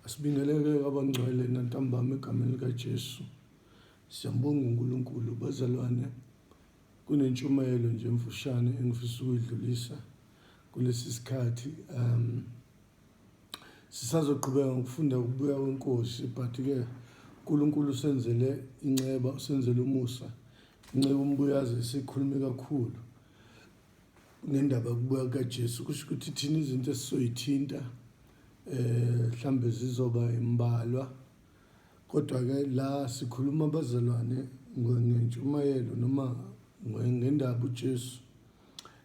Asibingeleke abangcwele nantambama egameni likaJesu. Siyambonga uNkulunkulu bazalwane. Kunentshumayelo nje emfushane engifisa ukuyidlulisa kulesi sikhathi um sisazoqhubeka ngokufunda ukubuya kwenkosi but ke uNkulunkulu usenzele inceba usenzele umusa inceku umbuyazi sikhulume kakhulu ngendaba yokubuya kukaJesu kusho ukuthi thina izinto esizoyithinta eh mhlambe zizoba imbalwa kodwa ke la sikhuluma abazalwane ngentshumayelo noma ngendaba uJesu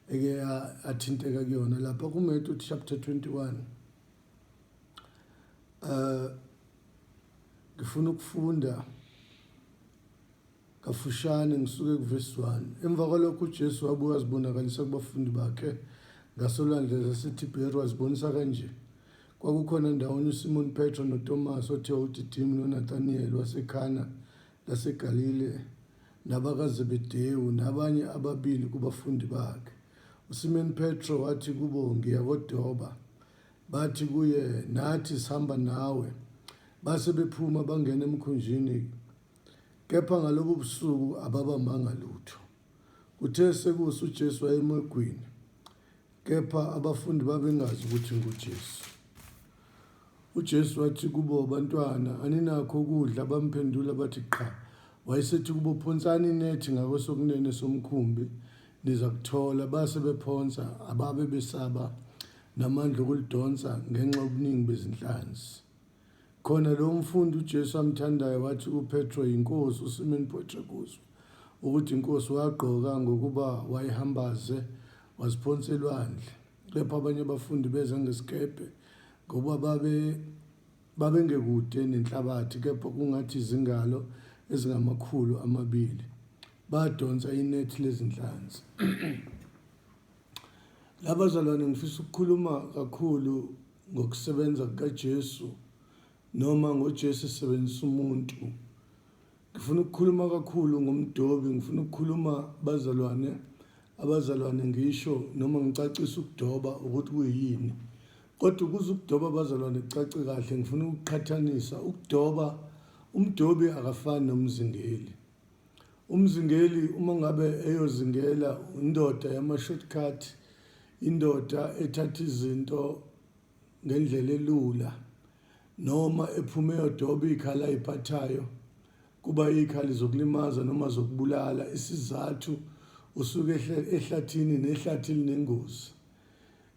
eke athinteka kuyona lapha kuMatthew chapter 21 eh ngifuna ukufunda Kafushane, ngisuka ekuvesi 1. Emva kwalokho uJesu wabuye wazibonakalisa kubafundi bakhe ngasolwandle zaseThibheri, wazibonisa kanje. Kwakukhona ndawonye uSimoni Petro noTomasi othiwa uDidimi noNathaniyeli waseKhana laseGalile nabakaZebedewu nabanye ababili kubafundi bakhe. USimoni Petro wathi kubo, Ngiya kodoba. Bathi kuye, Nathi sihamba nawe. Base bephuma bangena emkhunjini Kepha ngalobo busuku ababambanga lutho. Kuthe sekusa uJesu wayemegwini, kepha abafundi babengazi ukuthi nguJesu. UJesu wathi kubo, bantwana, aninakho ukudla? Bamphendula bathi, qha. Wayesethi kubo, phonsani inethi ngakwesokunene somkhumbi, niza kuthola. Base bephonsa, ababe besaba namandla okulidonsa ngenxa yobuningi bezinhlanzi. Khona lowo mfundi uJesu amthandayo wathi uPetro yiNkosi, uSimoni Petro ebuzwa ukuthi iNkosi wagqoka ngokuba wayihambaze waziphonsa elwandle. Kepha abanye abafundi beza ngesikebhe ngoba babe babengekude nenhlabathi kepha kungathi izingalo ezingamakhulu amabili badonsa inethi lezinhlanzi Labazalwane ngifisa ukukhuluma kakhulu ngokusebenza kukaJesu noma ngoJesu esebenzisa umuntu. Ngifuna ukukhuluma kakhulu ngomdobi, ngifuna ukukhuluma bazalwane, abazalwane ngisho noma ngicacisa ukudoba ukuthi kuyini. Kodwa ukuze ukudoba abazalwane kucace kahle ngifuna ukuqhathanisa ukudoba umdobi akafani nomzingeli. Umzingeli uma ngabe eyozingela indoda yama-shortcut, indoda ethatha izinto ngendlela elula noma ephume yodoba iy'khala ay'phathayo kuba iy'khali zokulimaza noma zokubulala isizathu usuke ehlathini nehlathi linengozi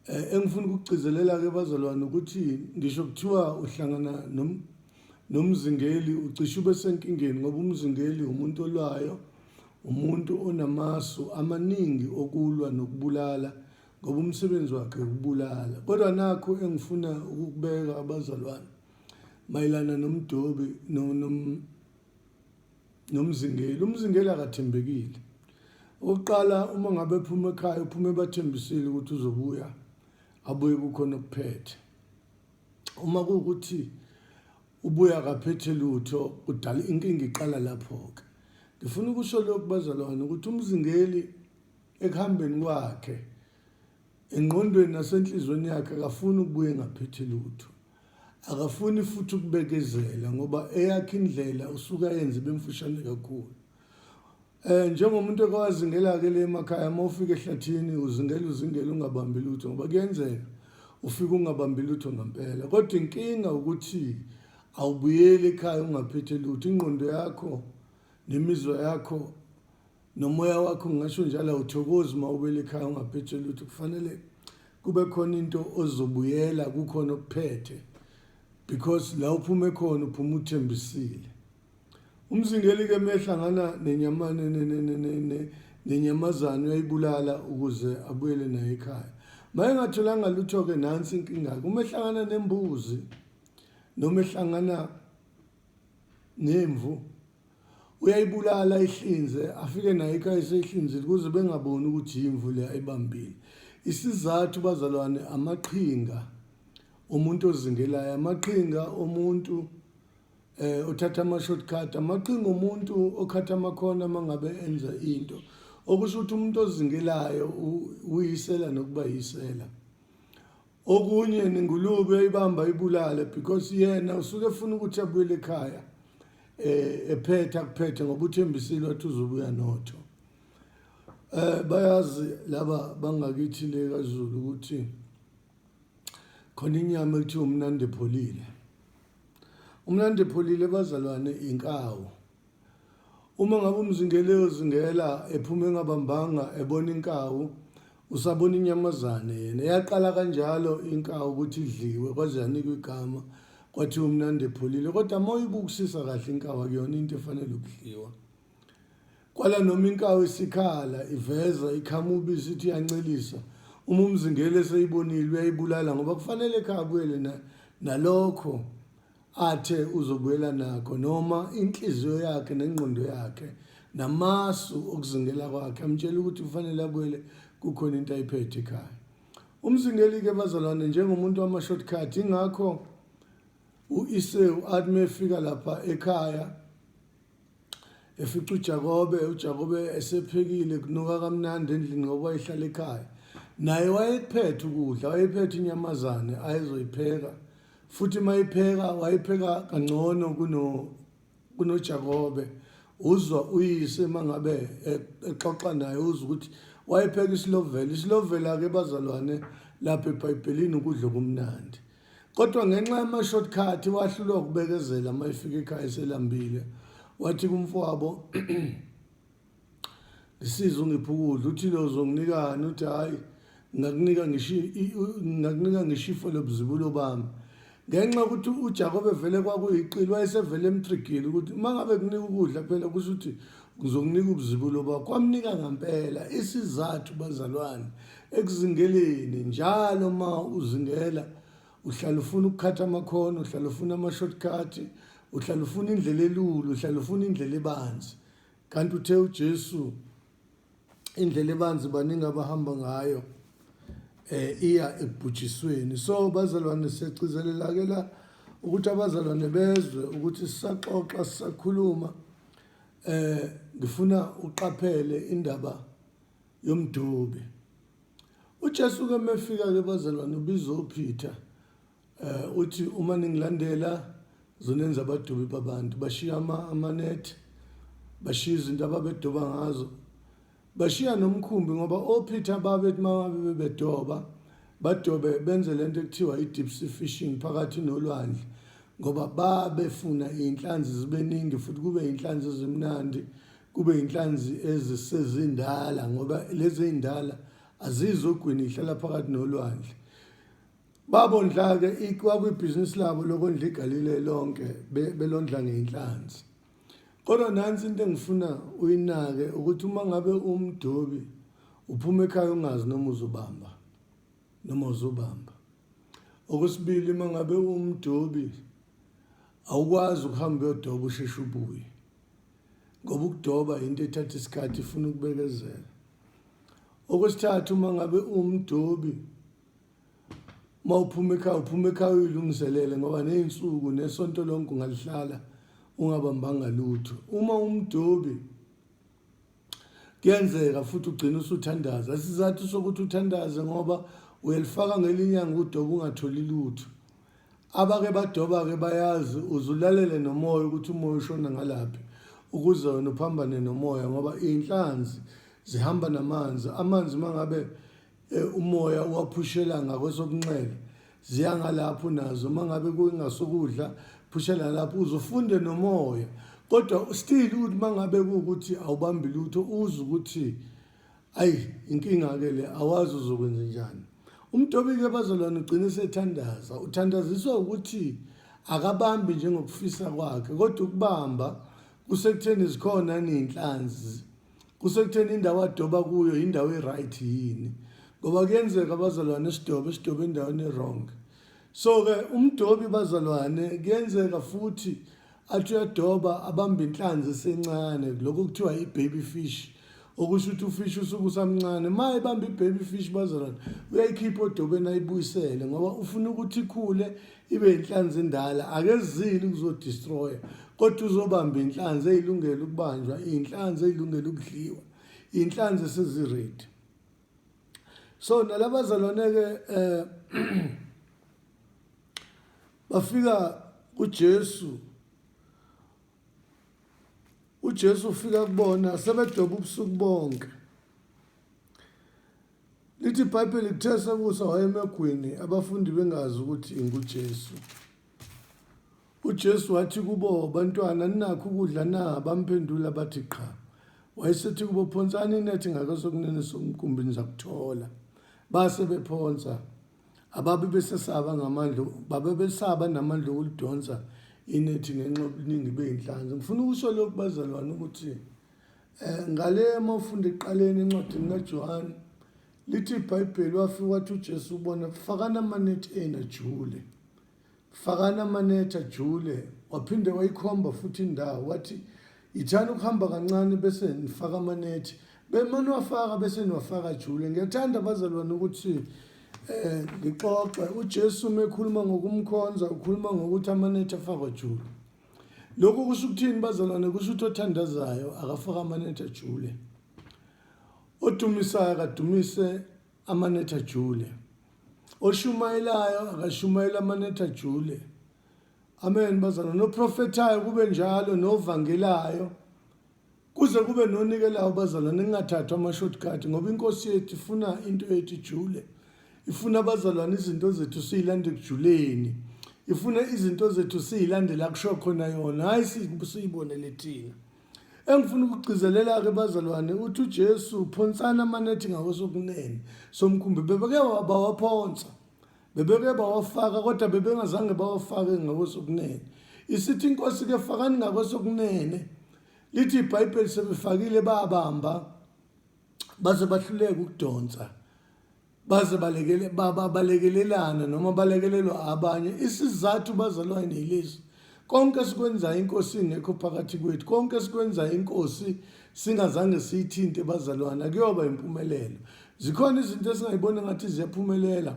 Eh, engifuna ukugcizelela-ke bazalwane ukuthi ngisho kuthiwa uhlangana nom, nomzingeli ucishe ube senkingeni ngoba umzingeli umuntu olwayo umuntu onamasu amaningi okulwa nokubulala ngoba umsebenzi wakhe ukubulala kodwa nakho engifuna ukukubeka abazalwane mayelana nomdobi no, nom, nomzingeli umzingeli akathembekile okokuqala uma ngabe phuma ekhaya uphume bathembisile ukuthi uzobuya abuye kukhona okuphethe uma kuwukuthi ubuya akaphethe lutho udala inkinga iqala lapho-ke ngifuna ukusho lokhu bazalwane ukuthi umzingeli ekuhambeni kwakhe engqondweni nasenhliziyweni yakhe akafuni ukubuya engaphethe lutho Akafuni futhi ukubekezela ngoba eyakhe indlela usuke ayenze bemfushane kakhulu. Eh njengomuntu okwazingela ke le emakhaya uma ufika ehlathini uzingela uzingela ungabambi lutho ngoba kuyenzeka ufike ungabambi lutho ngempela kodwa inkinga ukuthi awubuyeli ekhaya ungaphethe lutho ingqondo yakho nemizwa yakho nomoya wakho ngingasho njalo awuthokozi uma ubele ekhaya ungaphethe lutho kufanele kube khona into ozobuyela kukhona okuphethe because la uphume khona uphuma uthembisile umzingeli ke mehlangana nenyamane nenyamazane uyayibulala ukuze abuyele naye ekhaya maye ngatholanga lutho ke nansi inkinga ke uma ehlangana nembuzi noma ehlangana nemvu uyayibulala ayihlinze afike nayo ekhaya eseyihlinzile ukuze bengaboni ukuthi yimvu le ayibambile isizathu bazalwane amaqhinga omuntu ozingelayo amaqhinga omuntu eh uthatha ama shortcut amaqhinga omuntu okhatha amakhona mangabe enza into okusho ukuthi umuntu ozingelayo uyisela nokuba yisela okunye nengulube ibamba ibulale because yena usuke efuna ukuthi abuyele ekhaya eh ephetha kuphethe ngoba uthembisile wathi uzobuya notho eh bayazi laba bangakithi le kaZulu ukuthi khona inyama ekuthiwa umnandi epholile umnandi epholile bazalwane inkawu Uma ngabe umzingeli eyozingela ephuma engabambanga ebona inkawu usabona inyamazane yena yaqala kanjalo inkawu ukuthi idliwe kwaze yanikwa igama kwathiwa umnandi epholile kodwa uma uyibukisisa kahle inkawu akuyona into efanele ukudliwa kwala noma inkawu isikhala iveza ikhamubi isithi iyancelisa uma umzingeli eseyibonile uyayibulala ngoba kufanele ekhaya abuyele nalokho athe uzobuyela nakho noma inhliziyo yakhe nengqondo yakhe namasu okuzingela kwakhe amtshela ukuthi kufanele abuyele kukhona into ayiphethe ekhaya umzingeli-ke bazalwane njengomuntu wama-shortcut ingakho u-iseu athi uma efika lapha ekhaya efica uJakobe uJakobe esephekile kunuka kamnandi endlini ngoba ehlala ekhaya naye wayekuphethe ukudla wayephethe inyamazane ayezoyipheka futhi mayipheka wayipheka kangcono kuno kunoJakobe uzwa uyise mangabe exoxa naye uzwa ukuthi wayepheka isilovela isilovela ke bazalwane lapha eBhayibhelini ukudla kumnandi Kodwa ngenxa yama-shortcut wahlulwa ukubekezela uma efika ekhaya eselambile. Wathi kumfowabo ngisize ungiphe ukudla uthi lo uzonginikani uthi hhayi ngakunika ngisho ngakunika ngisho ifo lobuzibulo bami ngenxa yokuthi uJakobe vele kwakuyiqili wayesevele emtrigile ukuthi uma ngabe kunika ukudla phela kusho ukuthi ngizokunika ubuzibulo bakho wamnika ngampela isizathu bazalwane Ekuzingeleni njalo ma uzingela uhlala ufuna ukukhatha amakhono, uhlala ufuna ama-shortcut, uhlala ufuna indlela elula, uhlala ufuna indlela ebanzi. Kanti uthe uJesu indlela ebanzi baningi abahamba ngayo eh iya ekubhujisweni. So bazalwane siyagcizelela ke la ukuthi abazalwane bezwe ukuthi sisaxoxa sisakhuluma eh ngifuna uqaphele indaba yomdube uJesu ke mefika ke bazalwane ubiza uPeter eh uthi uma ningilandela zonenza abadubi babantu bashiya ama amanethi bashiya izinto ababedoba ngazo bashiya nomkhumbi ngoba oPeter babethi mababe bebedoba badobe benze lento ekuthiwa i-deep sea fishing phakathi nolwandle ngoba babefuna iy'nhlanzi zibe ningi futhi kube iy'nhlanzi ezimnandi kube yinhlanzi ezisezindala ngoba lezi ey'ndala azizogwini ihlala phakathi nolwandle babo ndla-ke kwakwibhizinisi labo lokondla igalile lonke belondla ngey'nhlanzi kodwa nansi into engifuna uyinake ukuthi uma ngabe umdobi uphuma ekhaya ungazi noma uzobamba noma uzobamba okwesibili uma ngabe umdobi awukwazi ukuhamba uyodoba usheshe ubuye ngoba ukudoba yinto ethatha isikhathi ifuna ukubekezela okwesithathu uma ngabe uwumdobi uma uphuma ekhaya uphuma ekhaya uyilungiselele ngoba ney'nsuku nesonto lonke ungalihlala ungabambanga lutho uma umdobi kuyenzeka futhi ugcina usuthandaza isizathu sokuthi uthandaze ngoba uyalifaka ngelinyanga udoba ungatholi lutho Abake badoba-ke bayazi, uze ulalele nomoya ukuthi umoya ushona ngalaphi ukuze wena uphambane nomoya ngoba iy'nhlanzi zihamba namanzi. Amanzi uma ngabe eh, umoya uwaphushela ngakwesobunxele ziya ngalapho nazo uma ngabe kungasukudla phushela ngalapho uze ufunde nomoya kodwa still ukuthi uma ngabe kuwukuthi awubambi lutho uze ukuthi ayi inkinga-ke le awazi uzokwenza njani umtobike bazolwana ugcine sethandaza uthandaziswa ukuthi akabambi njengokufisa kwakhe kodwa ukubamba kusekutheni zikhona ney'nhlanzi kusekutheni indawo adoba kuyo yindawo e-right yini ngoba kuyenzeka bazalwane sidobe sidobe endaweni e-wrong so-ke umdobi bazalwane kuyenzeka futhi athi uyadoba abambe inhlanzi esencane lokho kuthiwa i-baby fish okusho ukuthi ufish usuke usamncane ma ebambe i-baby fish bazalwane uyayikhipha odobeni ayibuyisele ngoba ufuna ukuthi ikhule ibe yinhlanzi endala akezile ukuzodistroya kodwa uzobamba inhlanzi eyilungele ukubanjwa iy'nhlanzi eyilungele ukudliwa iy'nhlanzi eseziredi so nalabazalwane-ke eh bafika kuJesu uJesu ufika kubona sebedoba ubusuku bonke lithi ibhayibheli kuthe sekusa wayemegwini abafundi bengazi ukuthi ingujesu UJesu wathi kubo, Bantwana, ninakho ukudla na? Bamphendula bathi, Qha. Wayesethi kubo, Phonsani inethi ngakwesokunene somkumbi nizakuthola. Base bephonsa. Ababe besesaba ngamandla, babe besaba namandla okulidonsa inethi ngenxa yobuningi bey'nhlanzi. Ngifuna ukusho lokhu bazalwane ukuthi eh, ngale uma ufunda ekuqaleni encwadini kaJohane lithi ibhayibheli wafika wathi uJesu ubona fakana amanethi enajule Fakani amanetha jule waphinde wayikhomba futhi indawo wathi yithani ukuhamba kancane bese nifaka amanethi bemane wafaka bese niwafaka jule ngiyathanda abazalwane ukuthi eh ngixoxe uJesu mekhuluma ngokumkhonza ukhuluma ngokuthi amanetha afakwa jule lokhu kusho ukuthini bazalwane kusho ukuthi othandazayo akafaka amanetha jule odumisayo akadumise amanetha jule oshumayelayo akashumayela amanetha jule amen bazana noprofethayo kube njalo novangelayo kuze kube nonikelayo bazana ningathathwa ama-shortcut ngoba inkosi yethu ifuna into yethu ijule ifuna abazalwane izinto zethu siyilande ekujuleni ifuna izinto zethu siyilandela kusho khona yona hhayi siyibonele thina Engifuna ukugcizelela-ke bazalwane ukuthi uJesu uphonsana amanethi ngakwesokunene somkhumbi bebeke bawaphonsa bebeke bawafaka kodwa bebengazange bawafake ngakwesokunene isithi inkosi ke fakani ngakwesokunene lithi ibhayibheli sebefakile babamba baze bahluleka ukudonsa baze balekele baba balekelelana noma balekelelwa abanye isizathu bazalwane yilesi konke esikwenzayo inkosi ingekho phakathi kwethu konke esikwenzayo inkosi singazange siyithinte bazalwane akuyoba impumelelo zikhona izinto esingayibona ngathi ziyaphumelela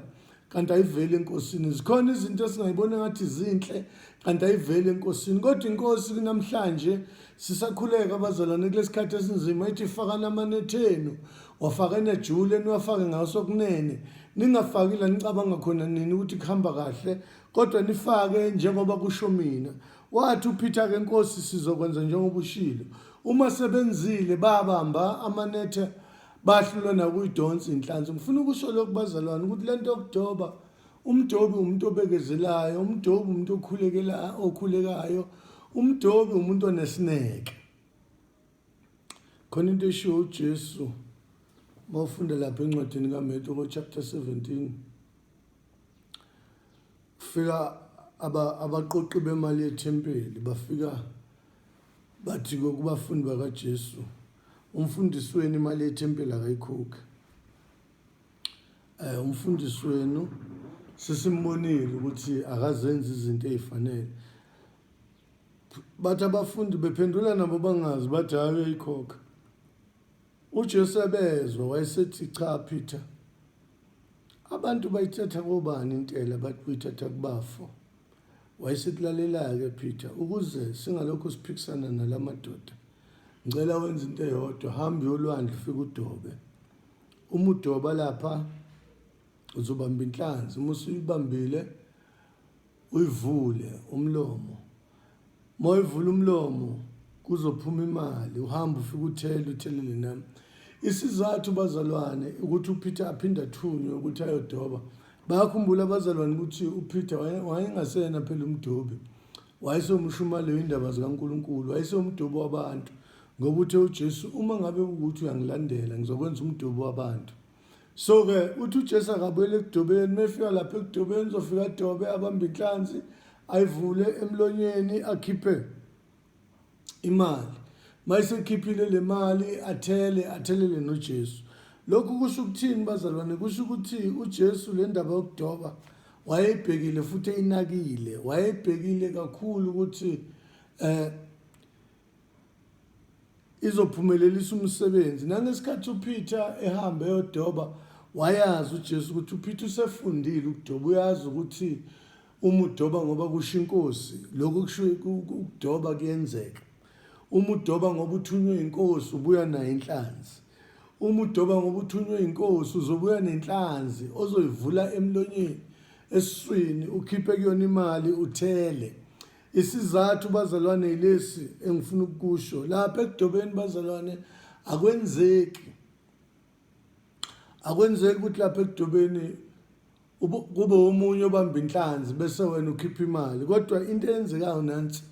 kanti ayiveli enkosini zikhona izinto esingayibona ngathi zinhle kanti ayiveli enkosini kodwa inkosi kunamhlanje sisakhuleka abazalwane kulesikhathi esinzima ithi fakani amanethe enu wafaka enejule niwafake ngaso kunene ningafaki la nicabanga khona nini ukuthi kuhamba kahle kodwa nifake njengoba kusho mina wathi uPeter ke Nkosi sizokwenza njengoba ushilo uma sebenzile babamba amanethe bahlulwa nakuyidonsa inhlanzi ngifuna ukusho lokubazalwane ukuthi lento yokudoba Umdobi umuntu obekezelayo, umdobi umuntu okhulekela okhulekayo, umdobi umuntu onesineke. Khona into eshiwo uJesu mawufunda lapha encwadini kaMeto ko chapter 17 kufika abaqoqi bemali yethempeli bafika bathi kokubafundi bakaJesu umfundisweni imali yethempeli akayikhokhi Eh, umfundisi wenu sesimbonile ukuthi akazenzi izinto ezifanele bathi abafundi bephendula nabo bangazi bathi hayi uyayikhokha uJesu ebezwa wayesethi cha Peter abantu bayithatha kobani intela bathi uyithatha kubafo wayesethi lalela-ke Peter ukuze singalokhu siphikisana nalamadoda ngicela wenza into eyodwa hamba yolwandle ufike udobe uma udoba lapha uzobamba inhlanzi uma usuyibambile uyivule umlomo uma uyivula umlomo kuzophuma imali uhamba ufike uthele uthelele nami isizathu bazalwane ukuthi upeter aphinde athunywe ukuthi ayodoba bayakhumbula abazalwane ukuthi upeter wayengasena phela umdobi wayesewumshumali weyindaba zikankulunkulu wayesewumdobi wabantu Ngoba uthe uJesu uma ngabe ukuthi uyangilandela ngizokwenza umdubo wabantu. So ke uthi uJesu akabuyele ekudobeni mefika lapha ekudobeni uzofika adobe abambe inhlanzi ayivule emlonyeni akhiphe imali. Mayisekhiphile le mali athele athelele noJesu. Lokhu kusho ukuthini bazalwane? Kusho ukuthi uJesu le ndaba yokudoba wayebhekile futhi eyinakile wayebhekile kakhulu ukuthi eh izophumelelisa umsebenzi nangesikhathi uPeter ehamba eyodoba wayazi uJesu ukuthi uPeter usefundile ukudoba uyazi ukuthi uma udoba ngoba kusho inkosi lokho kusho ukudoba kuyenzeka uma udoba ngoba uthunywe inkosi ubuya nayo inhlanzi uma udoba ngoba uthunywe inkosi uzobuya nenhlanzi ozoyivula emlonyeni esiswini ukhiphe kuyona imali uthele Isizathu bazalwane yilesi engifuna ukukusho lapha ekudobeni bazalwane akwenzeki akwenzeki ukuthi lapha ekudobeni kube omunye obamba inhlanzi bese wena ukhipha imali kodwa into eyenzekayo nansi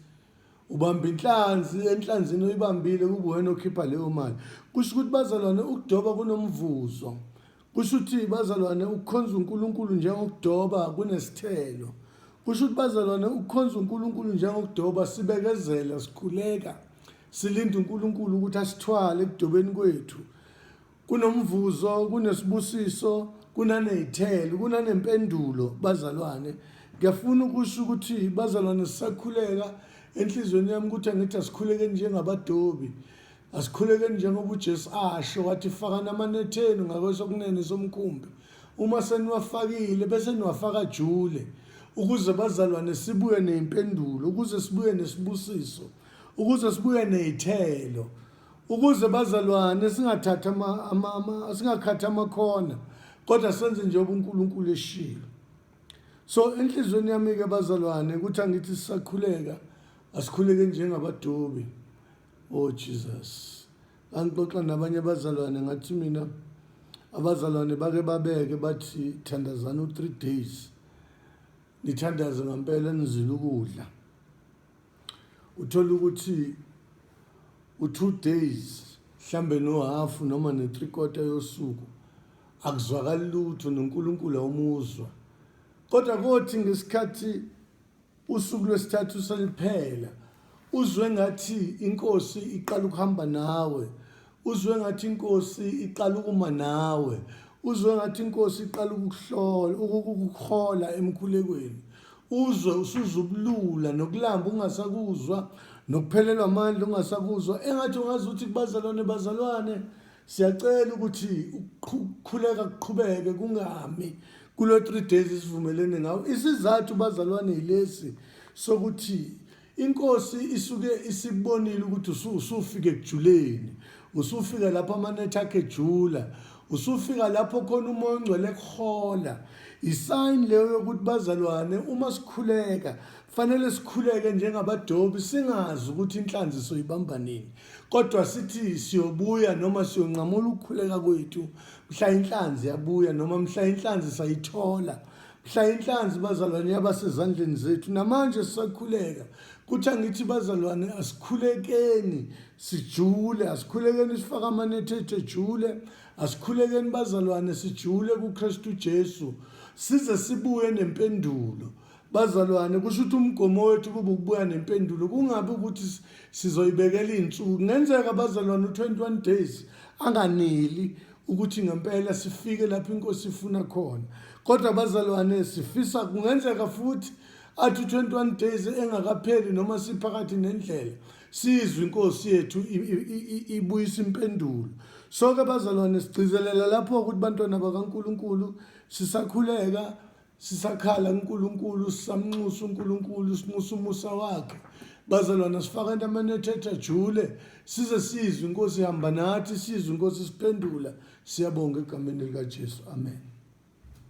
ubamba inhlanzi enhlanzini oyibambile kubuwena okhipha leyo mali kusho ukuthi bazalwane ukudoba kunomvuzo Kusho ukuthi bazalwane ukukhonza uNkulunkulu njengokudoba kunesithelo. Kusho ukuthi bazalwane ukukhonza uNkulunkulu njengokudoba sibekezela sikhuleka silinde uNkulunkulu ukuthi asithwale ekudobeni kwethu. Kunomvuzo, kunesibusiso, kunanezithelo, kunanempendulo bazalwane. Ngiyafuna ukusho ukuthi bazalwane sisakhuleka enhlizweni yami ukuthi angithi asikhuleke njengabadobi. Asikhulekeni njengoba uJesu asho wathi fakani amanethe enu ngakwesokunene somkhumbi uma seniwafakile bese niwafaka jule ukuze bazalwane sibuye neyimpendulo ukuze sibuye nesibusiso ukuze sibuye nezithelo ukuze bazalwane singathatha ama, ama, ama singakhathi amakhona kodwa senze njengoba uNkulunkulu eshilo so enhlizweni yami ke bazalwane ukuthi angithi sisakhuleka asikhuleke njengabadobi Oh Jesus. Ngangixoxa nabanye abazalwane ngathi mina abazalwane bake babeke bathi thandazana u 3 days. Nithandaze ngempela nizile ukudla. Uthola ukuthi u 2 days mhlambe no half noma ne 3 quarter yosuku akuzwakali lutho noNkulunkulu awumuzwa. Kodwa kothi ngesikhathi Usuku lwesithathu seliphela uzwe ngathi inkosi iqala ukuhamba nawe uzwe ngathi inkosi iqala ukuma nawe uzwe ngathi inkosi iqala ukuhlola ukukuhola emkhulekweni uzwe usuzubulula nokulamba ungasakuzwa nokuphelelwa amandla ungasakuzwa engathi ungazi ukuthi kubazalwane bazalwane Siyacela ukuthi ukukhuleka kuqhubeke kungami kulo 3 days isivumelene ngawo. Isizathu bazalwane yilesi sokuthi inkosi isuke isibonile ukuthi usufike kujuleni usufika lapho amanetha akhe ejula usufika lapho khona umoya ongcwele kuhola isayini leyo yokuthi bazalwane uma sikhuleka kufanele sikhuleke njengabadobi singazi ukuthi inhlanzi soyibamba nini kodwa sithi siyobuya noma siyonqamula ukukhuleka kwethu mhla inhlanzi yabuya noma mhla inhlanzi sayithola mhla inhlanzi bazalwane yabasezandleni zethu namanje sisakhuleka kuthi angithi bazalwane asikhulekeni sijule asikhulekeni sifake amanethe ethu ejule asikhulekeni bazalwane sijule kuKristu Jesu size sibuye nempendulo Bazalwane, kusho ukuthi umgomo wethu kube ukubuya nempendulo, kungabi ukuthi sizoyibekela iy'nsuku. Kungenzeka abazalwane u-21 days anganeli ukuthi ngempela sifike lapho inkosi ifuna khona. Kodwa abazalwane sifisa kungenzeka futhi athi u-21 days engakapheli noma siphakathi nendlela sizwe inkosi yethu ibuyisa impendulo so-ke bazalwane sigcizelela lapho ukuthi bantwana bakankulunkulu sisakhuleka sisakhala uNkulunkulu sisamnxusa uNkulunkulu sinxusa umusa wakhe bazalwana sifaka entameni ethetha jule size sizwe inkosi ihamba nathi sizwe inkosi siphendula siyabonga egameni likaJesu amen